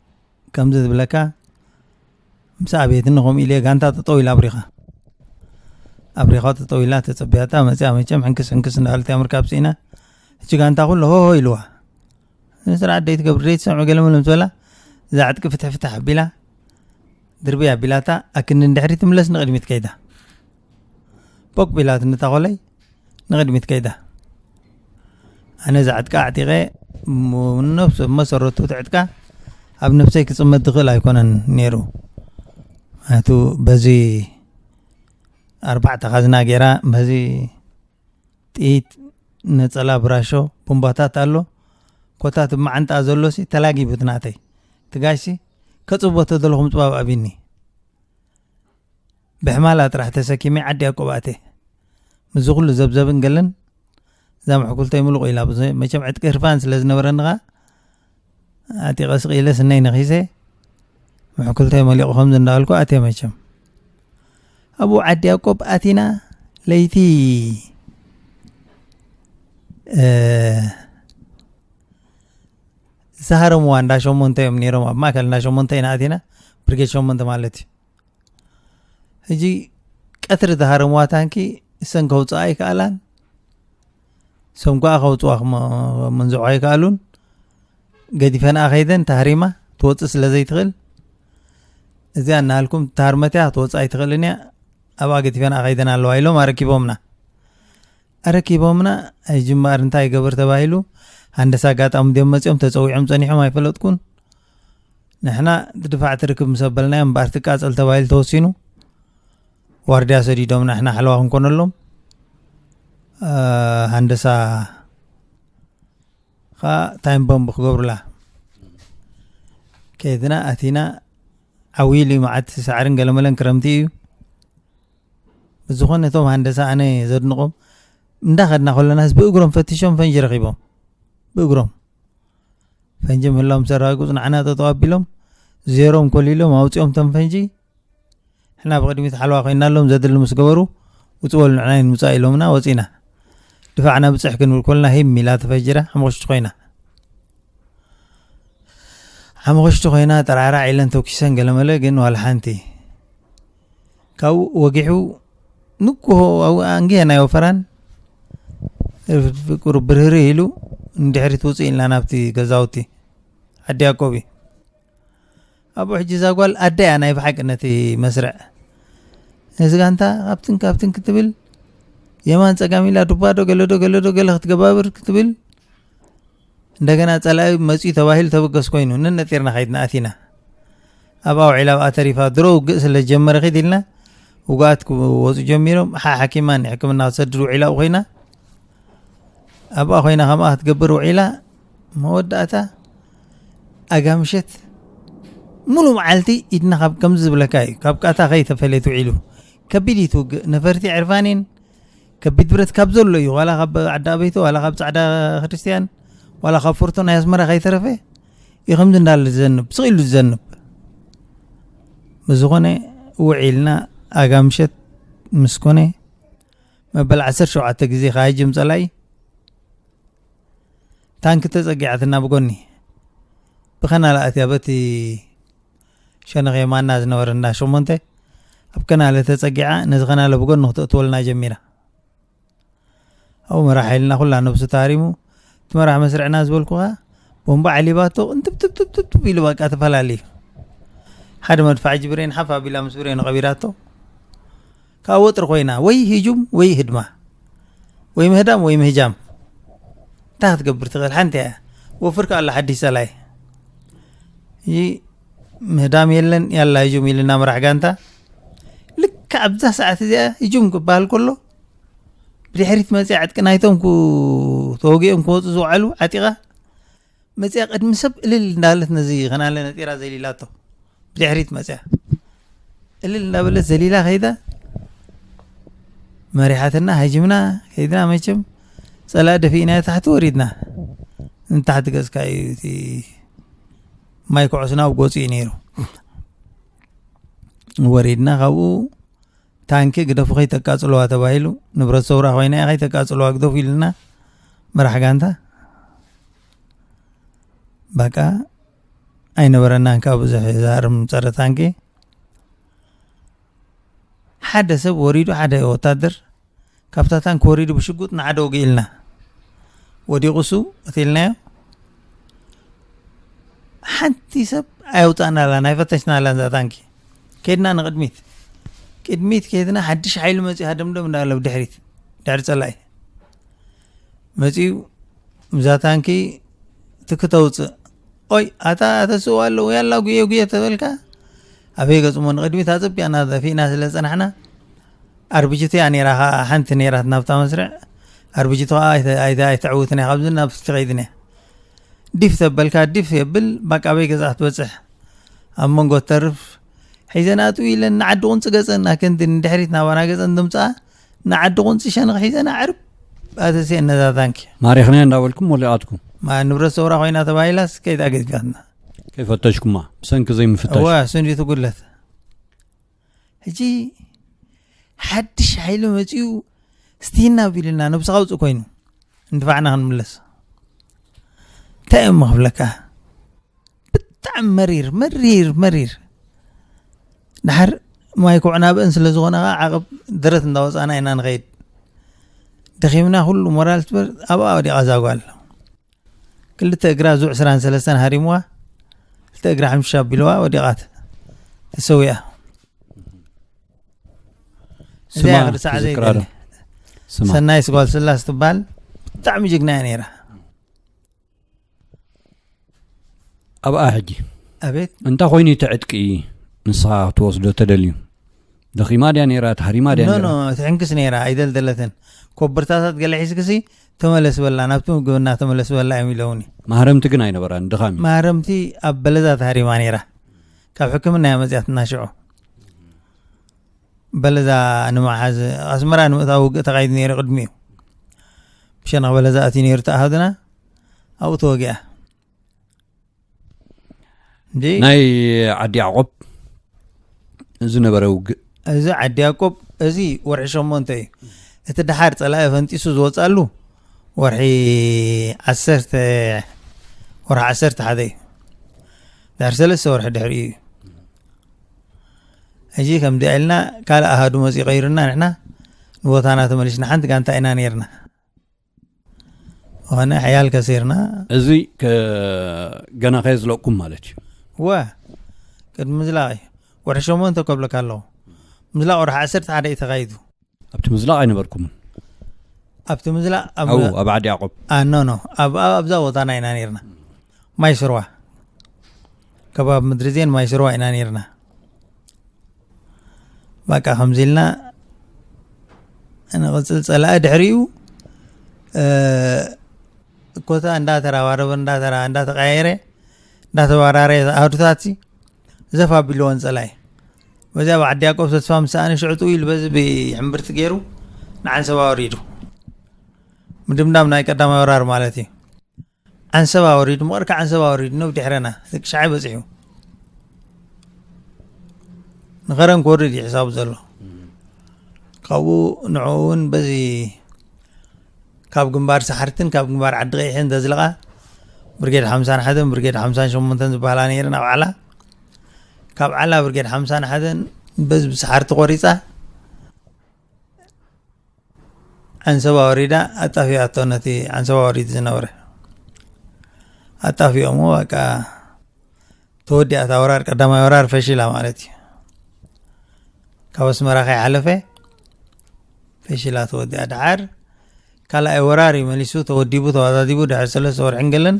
Speaker 2: ከምዚ ዝብለካ ምስ ኣብየትኒ ከምኡ ኢለ ጋንታ ጠጠው ኢላ ኣብሪኻ ኣብሪኻ ጠጠው ኢላ ተፀቢያታ መፅያ መቸም ሕንክስ ሕንክስ እንዳበለት እያ ምርካብ ስኢና እቺ ጋንታ ኩሉ ሆሆ ኢልዋ ስርዓት ደይ ትገብር ደይ ትሰምዑ ገለ ምንም ዝበላ እዛ ዕጥቂ ፍትሕ ፍትሕ ኣቢላ ድርቢ ኣቢላታ ኣክንዲ ንድሕሪ ትምለስ ንቅድሚት ከይዳ ፖቅ ቢላት ንታኾለይ ንቕድሚት ከይዳ ኣነ እዛ ዕጥቃ ኣዕጢቐ ነብሰ መሰረቱ እቲ ዕጥቃ ኣብ ነብሰይ ክፅመድ ዝኽእል ኣይኮነን ነይሩ ምክንያቱ በዚ ኣርባዕተ ካዝና ገይራ በዚ ጥይት ነፀላ ብራሾ ቦምባታት ኣሎ ኮታት መዓንጣ ዘሎ ሲ ተላጊቡት ናተይ ትጋሽ ሲ ከፅቦ ተደለኹ ምፅባብ ኣብኒ ብሕማላ ጥራሕ ተሰኪመ ዓዲ ያቆብ ኣትየ ምስዚ ኩሉ ዘብዘብን ገለን እዛ ምሕኩልተይ ምሉቕ ኢላ መቸም ዕጥቂ ህርፋን ስለ ዝነበረኒ ኸኣ ኣጢቐ ስቕ ኢለ ስነይ ነኺሰ ምሕኩልተይ መሊቑ ከምዚ እንዳበልኩ ኣትየ መቸም ኣብኡ ዓዲ ያቆብ ኣቲና ለይቲ ዝሃረምዋ እንዳ ሸሞንተ እዮም ነይሮም ኣብ ማእከል እንዳ ሸሞንተ ኢና ኣቲና ብርጌድ ሸሞንተ ማለት እዩ ሕጂ ቀትሪ ዝሃረምዋ ታንኪ እሰን ከውፅኣ ኣይከኣላን እሶም ከዓ ከውፅዋ መንዝዖ ኣይከኣሉን ገዲፈንኣ ከይደን ተሃሪማ ትወፅእ ስለ ዘይትኽእል እዚያ እናሃልኩም ተሃርመት እያ ክትወፅእ ኣይትኽእልን እያ ኣብኣ ገዲፈንኣ ከይደን ኣለዋ ኢሎም ኣረኪቦምና ኣረኪቦምና ኣይጅምኣር እንታይ ይገበር ተባሂሉ ሃንደሳ ኣጋጣሚ ድዮም መፂኦም ተፀዊዖም ፀኒሖም ኣይፈለጥኩን ንሕና ድፋዕ ትርክብ ምስ ኣበልናዮ እምበኣር ትቃጸል ተባሂሉ ተወሲኑ ዋርድያ ሰዲዶም ንሕና ሓለዋ ክንኮነሎም ሃንደሳ ከዓ ታይም ቦምብ ክገብሩላ ከይድና ኣቲና ዓብይሉ እዩ መዓት ሳዕርን ገለመለን ክረምቲ እዩ ብዝኾነ እቶም ሃንደሳ ኣነ ዘድንቖም እንዳኸድና ከለናስ ብእግሮም ፈትሾም ፈንጂ ረኺቦም ብእግሮም ፈንጂ ምህላው ምስ ኣረጋግፁ ንዓና ጠጠው ኣቢሎም ዜሮም ኮሊሎም ኣውፂኦም ተም ፈንጂ ሕና ብቅድሚት ሓለዋ ኮይናሎም ዘድሊ ምስ ገበሩ ውፅ በሉ ንዕና ይንውፃእ ኢሎምና ወፂና ድፋዕና ብፅሕ ክንብል ኮልና ሂም ኢላ ተፈጅራ ሓሙክሽቲ ኮይና ሓሙክሽቲ ኮይና ጠራዕራዕ ኢለን ተኪሰን ገለመለ ግን ዋላ ሓንቲ ካብኡ ወጊሑ ንግሆ ኣብኡ ኣንግሄ ናይ ወፈራን ፍቅሩ ብርህሪ ኢሉ ንድሕሪት ውፅእ ኢልና ናብቲ ገዛውቲ ዓዲ ያቆብ እዩ ኣብኡ ሕጂ እዛ ጓል ኣደ እያ ናይ ብሓቂ ነቲ መስርዕ ነዚ ጋንታ ካብትን ካብትን ክትብል የማን ፀጋም ኢላ ዱባዶ ገለዶ ገለዶ ገለ ክትገባብር ክትብል እንደገና ጸላኢ መጽዩ ተባሂሉ ተበገስ ኮይኑ ነነጢርና ከይድና ኣቲና ኣብኣ ውዒላ ኣብኣ ተሪፋ ድሮ ውግእ ስለ ጀመረ ኪድ ኢልና ውግኣት ክወፁ ጀሚሮም ሓሓኪማ ንሕክምና ክትሰድድ ውዒላ ኣብኡ ኮይና ኣብኣ ኮይና ከምኣ ክትገብር ውዒላ መወዳእታ ኣጋምሸት ሙሉእ መዓልቲ ኢድና ካብ ከምዚ ዝብለካ እዩ ካብ ቃታ ከይተፈለየት ውዒሉ ከቢድ እዩ ትውግእ ነፈርቲ ዕርፋኒን ከቢድ ብረት ካብ ዘሎ እዩ ዋላ ካብ ዓዲ ኣበይቶ ዋላ ካብ ፃዕዳ ክርስትያን ዋላ ካብ ፎርቶ ናይ ኣስመራ ከይተረፈ እዩ ከምዚ እንዳለ ዝዘንብ ስቕ ኢሉ ዝዘንብ ብዝኾነ ውዒልና ኣጋ ምሸት ምስ ኮነ መበል ዓሰርተ ሸውዓተ ግዜ ከሃጅም ፀላኢ ታንኪ ተፀጊዓትና ብጎኒ ብኸናልኣት እያ በቲ ሸነኽ የማና ዝነበረ እንዳ ሸሞንተ ኣብ ከናለ ተጸጊዓ ነዚ ከናለ ብጎኑ ክተእትወልና ጀሚራ ኣብኡ መራሕ ኢልና ኩላ ነብሱ ታሪሙ እቲ መራሕ መስርዕና ዝበልኩኻ ቦምባ ዓሊባቶ እንትብትብትብትብ ኢሉ በቃ ተፈላለዩ ሓደ መድፋዕ ጅብሬን ሓፍ ኣቢላ ምስ ብሬኑ ቀቢራቶ ካብ ወጥሪ ኮይና ወይ ህጁም ወይ ህድማ ወይ ምህዳም ወይ ምህጃም እንታይ ክትገብር ትኽእል ሓንቲ እያ ወፍር ከ ኣሎ ሓድሽ ጸላይ እዚ ምህዳም የለን ያላ ህጁም ኢልና መራሕ ጋንታ ልክ ኣብዛ ሰዓት እዚኣ ህጁም ክበሃል ከሎ ብድሕሪት መፅኣ ዕጥቂ ናይቶም ተወጊኦም ክወፁ ዝውዓሉ ዓጢቓ መጺኣ ቅድሚ ሰብ እልል እንዳበለት ነዚ ከናለ ነጢራ ዘሊላቶ ብድሕሪት መጺኣ እልል እንዳበለት ዘሊላ ከይዳ መሪሓትና ሃጅምና ከይድና መቸም ፀላእ ደፊእና ታሕቲ ወሪድና ንታሕቲ ገፅካ እዩ እቲ ማይ ኩዕስና ኣብ ጎፂ እዩ ነይሩ ወሪድና ካብኡ ታንኪ ግደፉ ከይተቃፅልዋ ተባሂሉ ንብረት ሰውራ ኮይና እያ ከይተቃፅልዋ ግደፉ ኢልና መራሕ ጋንታ ባቃ ኣይነበረናን ካብ ብዙሕ ዛርም ፀረ ታንኪ ሓደ ሰብ ወሪዱ ሓደ ወታደር ካብታ ታንክ ወሪዱ ብሽጉጥ ንዓደ ወጊኡ ኢልና ወዲቑ እሱ ቀቲልናዮ ሓንቲ ሰብ ኣየውፃእናላን ኣይፈተሽናላን እዛ ታንኪ ከድና ንቕድሚት ቅድሚት ከድና ሓድሽ ሓይሊ መፅኡ ሃደምደም እንዳለ ብድሕሪት ድሕሪ ፀላኢ መፅኡ እዛ ታንኪ ትክተውፅእ ኦይ ኣታ ተስእዋ ኣለዎ ያላ ጉየ ጉየ ተበልካ ኣበይ ገፅሞ ንቅድሚት ኣፀቢቕና ዘፊእና ስለ ፀናሕና ኣርብጅቲ እያ ነይራ ከኣ ሓንቲ ነይራት ናብታ መስርዕ ኣርብጅቲ ከኣ ኣይተዕውትን እያ ካብዚ ናብ ትኸይድን እያ ዲፍ ተበልካ ዲፍ የብል ባቃበይ ገዛ ክትበፅሕ ኣብ መንጎ ተርፍ ሒዘን ኣጥው ኢለን ንዓዲ ቁንፂ ገፀን ኣከንዲ ንድሕሪት ናባና ገፀን ድምፅኣ ንዓዲ ቁንፂ ሸንኽ ሒዘን ኣዕርብ ኣተስየ ነዛ ታንኪ ማሪኽና እንዳበልኩም
Speaker 1: ወሊቓትኩም ንብረት ሰውራ
Speaker 2: ኮይና ተባሂላስ ከይዳ ገዝጋትና ከይፈተሽኩማ
Speaker 1: ብሰንኪ ዘይምፍታሽ እዋ ስንዲቱ ጉድለት
Speaker 2: ሕጂ ሓድሽ ሓይሊ መፅኡ ስቲና ቢልና ነብስኻ ውፅእ ኮይኑ እንድፋዕና ክንምለስ እንታይ እዮም ክብለካ ብጣዕሚ መሪር መሪር መሪር ድሓር ማይ ኩዕና ብእን ስለ ዝኾነ ከዓ ዓቕብ ደረት እንዳወፃና ኢና ንኸይድ ደኺምና ኩሉ ሞራል ትበር ኣብኣ ወዲቓ ዛጓል ክልተ እግራ ዙዕ ስራን ሰለስተን ሃሪምዋ ክልተ እግራ ሕምሻ ኣቢልዋ ወዲቓት ተሰዊኣ
Speaker 1: እዚኣ ክርሳዕ ዘይደሊ
Speaker 2: ሰናይ ስጓል ስላስ ትበሃል ብጣዕሚ ጅግና እያ ነይራ
Speaker 1: ኣብኣ ሕጂ ኣቤት እንታይ
Speaker 2: ኮይኑ
Speaker 1: ተዕጥቂ ንስኻ ክትወስዶ ተደልዩ ደኺማ ድያ ነይራ ተሃሪማ ድያ ኖ ትሕንክስ ነይራ
Speaker 2: ኣይደልደለትን ኮበርታታት ገለ ሒዝክሲ ተመለስ በላ ናብቲ ምግብና ተመለስ በላ እዮም ኢለውኒ ማህረምቲ ግን ኣይነበራን
Speaker 1: ድኻሚ ማህረምቲ ኣብ
Speaker 2: በለዛ ተሃሪማ ነይራ ካብ ሕክምና እያ መፅያትና ሽዑ በለዛ ንምሓዝ ኣስመራ ንምእታዊ ውግእ ተኻይዱ ነይሩ ቅድሚኡ ብሸነኽ በለዛ እቲ ነይሩ ተኣሃዱና ኣብኡ ተወጊኣ ናይ
Speaker 1: ዓዲ ያዕቆብ ዝነበረ ውግእ እዚ ዓዲ
Speaker 2: ያቆብ እዚ ወርሒ ሸሞንተ እዩ እቲ ድሓር ፀላኢ ፈንጢሱ ዝወፅኣሉ ወርሒ ዓሰርተ ወርሒ ዓሰርተ ሓደ እዩ ድሕር ሰለስተ ወርሒ ድሕሪ እዩ ሕጂ ከም ዲኣ ኢልና ካልእ ኣሃዱ መፅኡ ቀይሩና ንሕና ንቦታና ተመሊስና ሓንቲ ጋንታ ኢና ነርና ሆነ ሕያል ከሲርና እዚ
Speaker 1: ገና ከየዝለቅኩም ማለት እዩ ወ
Speaker 2: ቅድሚ ምዝላቕ እዩ ወርሒ ሸሞንተ ከብለካ ኣለኹ ምዝላቕ ወርሒ ዓሰርተ ሓደ እዩ ተኻይዱ ኣብቲ ምዝላቕ
Speaker 1: ኣይነበርኩምን
Speaker 2: ኣብቲ ምዝላቕ ኣብ ዓዲ
Speaker 1: ያቆብ ኖ ኖ
Speaker 2: ኣብዛ ቦታና ኢና ነርና ማይ ስርዋ ከባቢ ምድሪ ዜን ማይ ስርዋ ኢና ነርና ባቃ ከምዚ ኢልና ንቕፅል ፀላኢ ድሕሪኡ ኮታ እንዳተራባረበ እንዳተራ እንዳተቀያየረ እንዳተባራረየ ኣህዱታት ዘፍ ኣቢልዎን ፀላኢ በዚኣ ብዓዲ ያቆብ ተስፋ ምሰኣነ ሽዕጡ ኢሉ በዚ ብሕምብርቲ ገይሩ ንዓንሰባ ወሪዱ ምድምዳም ናይ ቀዳማይ ወራር ማለት እዩ ዓንሰብ ኣወሪዱ ምቕር ከዓንሰብ ኣወሪዱ ነብ ድሕረና ደቂ ሸዓይ በፂሑ ንኸረን ክወርድ እዩ ሕሳቡ ዘሎ ካብኡ ንዕኡ እውን በዚ ካብ ግንባር ሰሓርትን ካብ ግንባር ዓዲ ቀይሕን ዘዝለቓ ብርጌድ ሓምሳን ሓደን ብርጌድ ሓምሳን ሸሞንተን ዝበሃላ ነይረን ኣብ ዓላ ካብ ዓላ ብርጌድ ሓምሳን ሓደን በዚ ብሰሓርቲ ቆሪፃ ዓንሰባ ወሪዳ ኣጣፊኣቶ ነቲ ዓንሰባ ወሪድ ዝነበረ ኣጣፊኦሞ በቃ ተወዲኣት ኣውራር ቀዳማይ ወራር ፈሽላ ማለት እዩ ካብ ኣስመራ ከይሓለፈ ፈሽላ ተወዲኣ ደዓር ካልኣይ ወራር እዩ መሊሱ ተወዲቡ ተዋዳዲቡ ድሕሪ ሰለስተ ወርሕን ገለን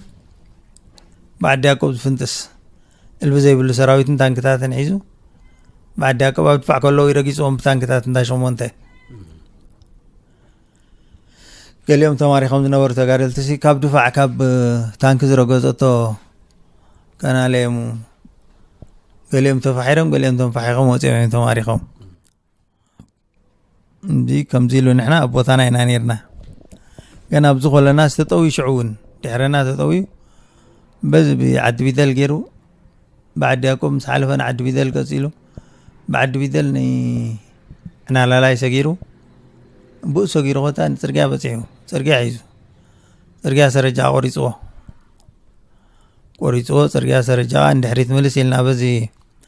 Speaker 2: ብዓዲ ያቆብ ዝፍንጥስ እልቢ ዘይብሉ ሰራዊትን ታንክታትን ሒዙ ብዓዲ ያቆብ ኣብ ድፋዕ ከለዉ ይረጊፅዎም ብታንክታት እንዳ ሸሞንተ ገሊኦም ተማሪኾም ዝነበሩ ተጋደልቲ ሲ ካብ ድፋዕ ካብ ታንኪ ዝረገፀቶ ቀናለየሙ ገሊኦም ተፋሒሮም ገሊኦም ተንፋሒኾም ወፂኦም እዮም ተማሪኾም እንዲ ከምዚ ኢሉ ንሕና ኣብ ቦታና ኢና ነርና ገና ኣብዚ ኮለና ዝተጠውዩ ሽዑ እውን ድሕረና ተጠውዩ በዚ ብዓዲ ቢደል ገይሩ ብዓዲ ያቆብ ምስ ሓለፈ ንዓዲ ቢደል ቀፂሉ ብዓዲ ቢደል ንናላላይ ሰጊሩ ብኡ ሰጊሩ ኮታ ንፅርግያ በፂሑ ፅርግያ ሒዙ ፅርግያ ሰረጃ ቆሪፅዎ ቆሪፅዎ ፅርግያ ሰረጃ ንድሕሪት ምልስ ኢልና በዚ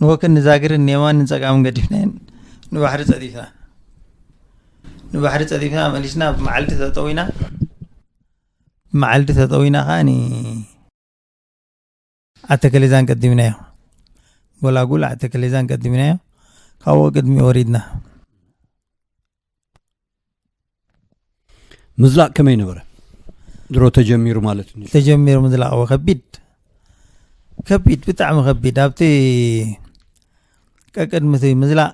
Speaker 2: ንወክን ንዛግርን ንየማን ንጸጋምን ገዲፍናየን ንባሕሪ ጸዲፍና ንባሕሪ ጸዲፍና መሊስና ብመዓልቲ ተጠዊና ብመዓልቲ ተጠዊና ከዓኒ ዓተከሌዛን ቀዲምናዮ ጎላጉል ዓተከሌዛን ቀዲምናዮ ካብኡ ቅድሚ ወሪድና
Speaker 1: ምዝላቅ ከመይ ነበረ ድሮ ተጀሚሩ ማለት እዩ ተጀሚሩ ምዝላቅ
Speaker 2: ከቢድ ከቢድ ብጣዕሚ ከቢድ ኣብቲ ቀቅድሚ እቲ ምዝላቅ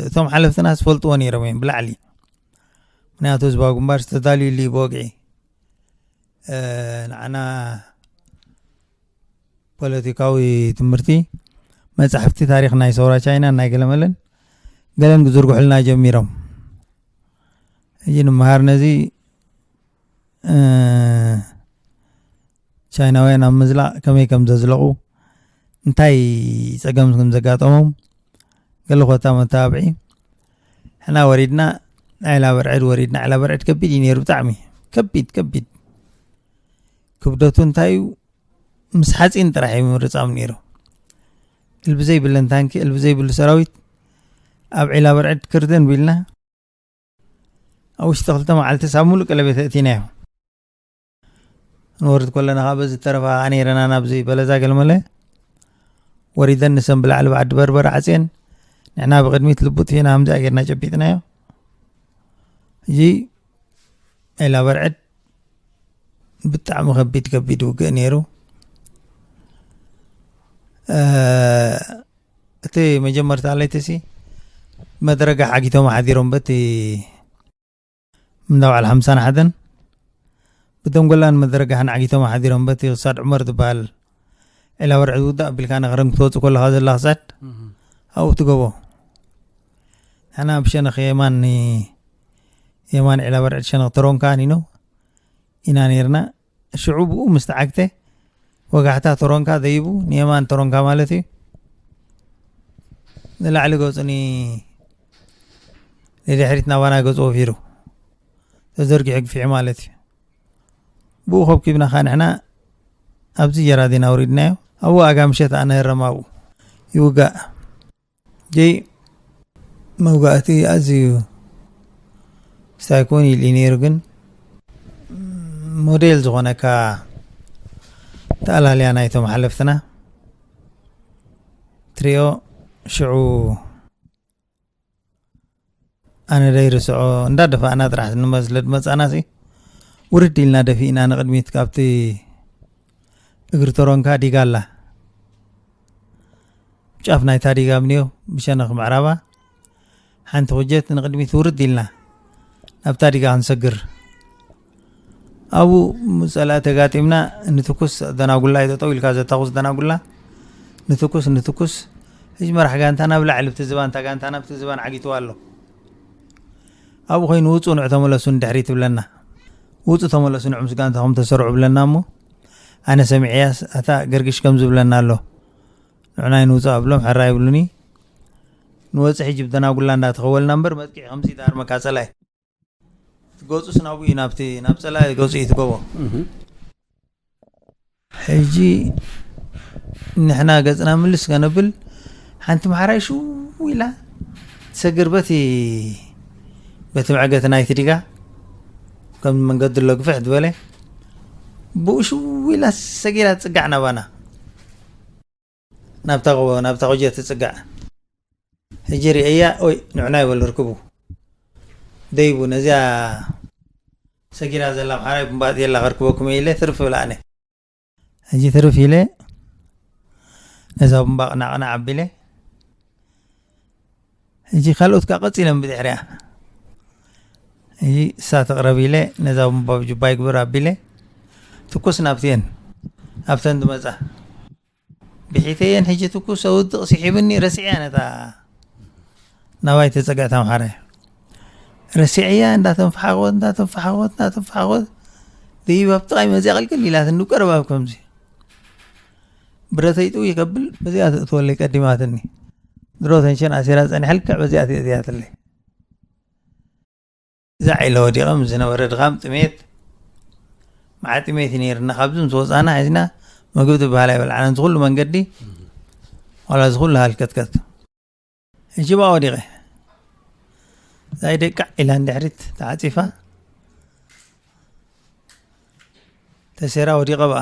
Speaker 2: እቶም ሓለፍትና ዝፈልጥዎ ነይሮም እዮም ብላዕሊ ምክንያቱ ህዝባዊ ግንባር ዝተዳልዩሉ ብወግዒ ንዓና ፖለቲካዊ ትምህርቲ መጻሕፍቲ ታሪኽ ናይ ሰውራ ቻይናን ናይ ገለመለን ገለን ክዝርግሑልና ጀሚሮም ሕጂ ንምሃር ነዚ ቻይናውያን ኣብ ምዝላቕ ከመይ ከም ዘዝለቑ እንታይ ፀገም ከም ዘጋጠሞም ገለ ኮታ መተባብዒ ሕና ወሪድና ዕላ በርዕድ ወሪድና ዕላ በርዕድ ከቢድ እዩ ነይሩ ብጣዕሚ ከቢድ ከቢድ ክብደቱ እንታይ እዩ ምስ ሓፂን ጥራሕ እዩ ምርፃም ነይሩ እልቢ ዘይብለን ታንኪ እልቢ ዘይብሉ ሰራዊት ኣብ ዒላ በርዕድ ክርደን ቢልና ኣብ ውሽጢ ክልተ መዓልቲ ሳብ ሙሉእ ቀለቤት እቲናዮ ንወርድ ኮለና ካብ በዚ ተረፋ ነይረና ናብዚ በለዛ ገልመለ ወሪደን ንሰን ብላዕሊ ብዓዲ በርበረ ዓፅየን ንሕና ብቅድሚት ልቡጥ ፊና ከምዚኣ ጌርና ጨቢጥናዮ እዚ ዒላ በርዕድ ብጣዕሚ ከቢድ ከቢድ ውግእ ነይሩ እቲ መጀመርታ ለይቲ ሲ መድረጋ ሓጊቶም ሓዲሮም በቲ ምንዳ በዓል ሓምሳን ሓደን ብደንጎላን መድረጋሕን ዓጊቶም ሓዲሮም በቲ ክሳድ ዑመር ዝበሃል ዒላ ወርዒ ዝውዳእ ቢልካ ንክረም ክትወፁ ከለካ ዘላ ክሳድ ኣብኡ ትገቦ ንሕና ብሸነኽ የማን የማን ዕላ በርዕድ ሸነኽ ተሮን ከዓ ኒኖ ኢና ነርና ሽዑ ብኡ ምስ ተዓግተ ወጋሕታ ተሮንካ ዘይቡ ንየማን ተሮንካ ማለት እዩ ንላዕሊ ገፁኒ ንድሕሪት ናባና ገፁ ወፊሩ ተዘርጊሑ ግፊዑ ማለት እዩ ብኡ ከብኪብና ከዓ ንሕና ኣብዚ ጀራዲን ኣውሪድናዮ ኣብኡ ኣጋ ምሸት ኣነህረም ኣብኡ ይውጋእ እቲ መውጋእቲ ኣዝዩ ሳይኮን ኢሉ ነይሩ ግን ሞዴል ዝኾነካ ተኣላልያ ናይቶም ሓለፍትና ትሪኦ ሽዑ ኣነ ደይርስዖ እንዳደፋእና ጥራሕ ንመ ስለ ድመፃና ሲ ውርድ ኢልና ደፊእና ንቕድሚት ካብቲ እግሪ ተሮንካ ዲጋ ኣላ ጫፍ ናይታ ዲጋ ምንዮ ብሸነኽ ምዕራባ ሓንቲ ኩጀት ንቕድሚት ውርድ ኢልና ናብታ ዲጋ ክንሰግር ኣብኡ ምስ ጸላኢ ተጋጢምና ንትኩስ ኣደናጉላ እዩ ጠጠው ኢልካ ዘታኹስ ደናጉላ ንትኩስ ንትኩስ ህጅ መራሕ ጋንታ ናብ ላዕሊ ብቲ ዝባን እታ ጋንታ ናብቲ ዝባን ዓጊትዋ ኣሎ ኣብኡ ኮይኑ ውፁ ንዑ ተመለሱ ንድሕሪ ትብለና ውፁ ተመለሱ ንዑ ምስ ጋንታኹም ተሰርዑ ብለና እሞ ኣነ ሰሚዐያስ ኣታ ገርግሽ ከም ዝብለና ኣሎ ንዑና ይንውፁ ኣብሎም ሕራ ይብሉኒ ንወፅሒ ጅብ ደናጉላ እንዳተኸወልና እምበር መጥቂዒ ከምዚ ዳርመካ ጸላይ ገጹ ስናቡ እዩ ናብቲ ናብ ጸላኢ ገጹ እዩ ትገቦ ሕጂ ንሕና ገጽና ምልስ ከነብል ሓንቲ መሓራይ ሽው ኢላ ትሰግር በቲ በቲ መዕገቲ ናይቲ ዲጋ ከም መንገዲ ኣሎ ግፍሕ ዝበለ ብኡ ሽው ኢላ ሰጊራ ትጽጋዕ ናባና ናብታ ጎቦ ናብታ ቁጀ ትጽጋዕ ሕጂ ርእያ ኦይ ንዑና ይበሉ ርክቡ ደይቡ ነዚያ ሰጊራ ዘላ ምሓራይ ብምባእት የላ ከርክበኩም ኢለ ትርፍ ብላ ኣነ ሕጂ ትርፍ ኢለ ነዛ ብምባቕ ናቕና ዓቢለ ሕጂ ካልኦት ከዓ ቀፂለ ብድሕሪያ ሕጂ እሳ ትቕረብ ኢለ ነዛ ብምባብ ጅባ ይግብር ኣቢለ ትኩስ ናብትየን ኣብተን ዝመፃ ብሒተይ እየን ሕጂ ትኩስ ኣውድቕ ስሒብኒ ረሲዐያ ነታ ናባይ ተጸግዐት ኣምሓራይ ረሲዐያ እንዳተንፈሓቆት እንዳተንፈሓቆት እንዳተንፈሓቆት ደይብ ኣብ ጥቓይ መዚያ ቅልቅል ኢላትኒ ቀረባ ኣብ ከምዚ ብረተይ ጥው ይከብል በዚኣ ትእትወለይ ቀዲማትኒ ድሮ ተንሸን ኣሲራ ፀኒሐልክዕ በዚኣ ትእትያትለይ እዛ ዒላ ወዲቐም ዝነበረ ድኻም ጥሜት መዓ ጥሜት እዩ ነይርና ካብዚ ምስ ወፃና ሒዝና ምግቢ ዝበሃል ኣይበልዓናን ዝኩሉ መንገዲ ዋላ ዝኩሉ ሃልከትከት ሕጂ ብኣ ወዲቐ ዛይ ደቃዕ ኢላ ንድሕሪት ተዓፂፋ ተሴራ ወዲቐ ብኣ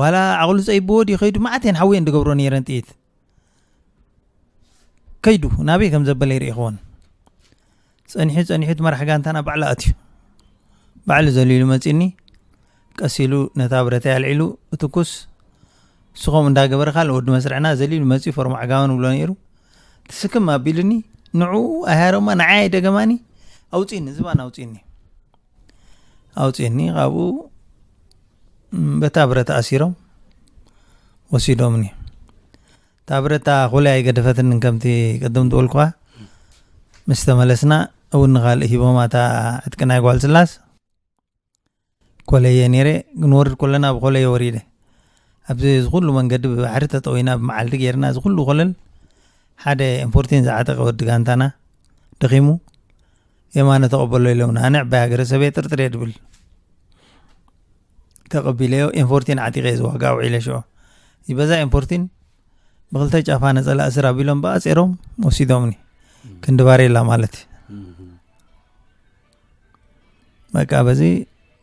Speaker 2: ዋላ ዓቕሉ ፀይብዎ ድዩ ከይዱ መዓት እየን ሓዊ እየን ዝገብሮ ነይረን ጥይት ከይዱ ናበይ ከም ዘበለ ይርኢኽዎን ፀኒሑ ፀኒሑ እቲ መራሕ ጋንታና ባዕሉ ኣትዩ ባዕሉ ዘሊሉ መፂኒ ቀስ ኢሉ ነታ ብረታ ኣልዒሉ እትኩስ እሱ ከምኡ እንዳገበረ ካልእ ወዲ መስርዕና ዘሊሉ መፂኡ ፈርሞ ዓጋመን ብሎ ነይሩ ትስክም ኣቢሉኒ ንዑ ኣሃሮማ ንዓይ ደገማኒ ኣውፂኒ ዝባን ኣውፂኒ ኣውፅኒ ካብኡ በታ ብረት ኣሲሮም ወሲዶምኒ እታ ብረታ ኩላይ ኣይገደፈትኒ ከምቲ ቅድም ዝበልኩኻ ምስ ተመለስና እውን ንካልእ ሂቦማ እታ ዕጥቂ ናይ ጓል ስላስ ኮለየ ነይረ ክንወርድ ኮለና ብኮለየ ወሪደ ኣብዚ እዚ ኩሉ መንገዲ ብባሕሪ ተጠዊና ብመዓልቲ ጌርና እዚ ኩሉ ኮለል ሓደ ኤምፖርቲን ዝዓጠቀ ወዲ ጋንታና ደኺሙ የማነ ተቐበሎ ኢሎምና ኣነ ዕባይ ሃገረሰበየ ጥርጥርየ ድብል ተቐቢለዮ ኤንፎርቲን ዓጢቀየ ዝዋጋ ውዒለ ሽዑ ይበዛ ኤንፎርቲን ብክልተ ጫፋ ነፀላ እስር ኣቢሎም ብኣፀሮም ወሲዶምኒ ክንዲ ባሬላ ማለት እዩ በቃ በዚ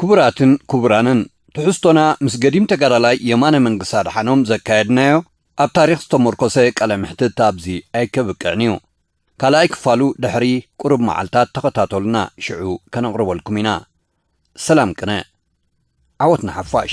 Speaker 1: ክቡራትን ክቡራንን ትሕዝቶና ምስ ገዲም ተጋዳላይ የማነ መንግስ ኣድሓኖም ዘካየድናዮ ኣብ ታሪኽ ዝተሞርኮሰ ቃለ መሕትት ኣብዚ ኣይከብቅዕን እዩ። ካልኣይ ክፋሉ ድሕሪ ቁሩብ መዓልታት ተኸታተሉና ሽዑ ከነቕርበልኩም ኢና። ሰላም ቅነ። ዓወት ንሓፋሽ።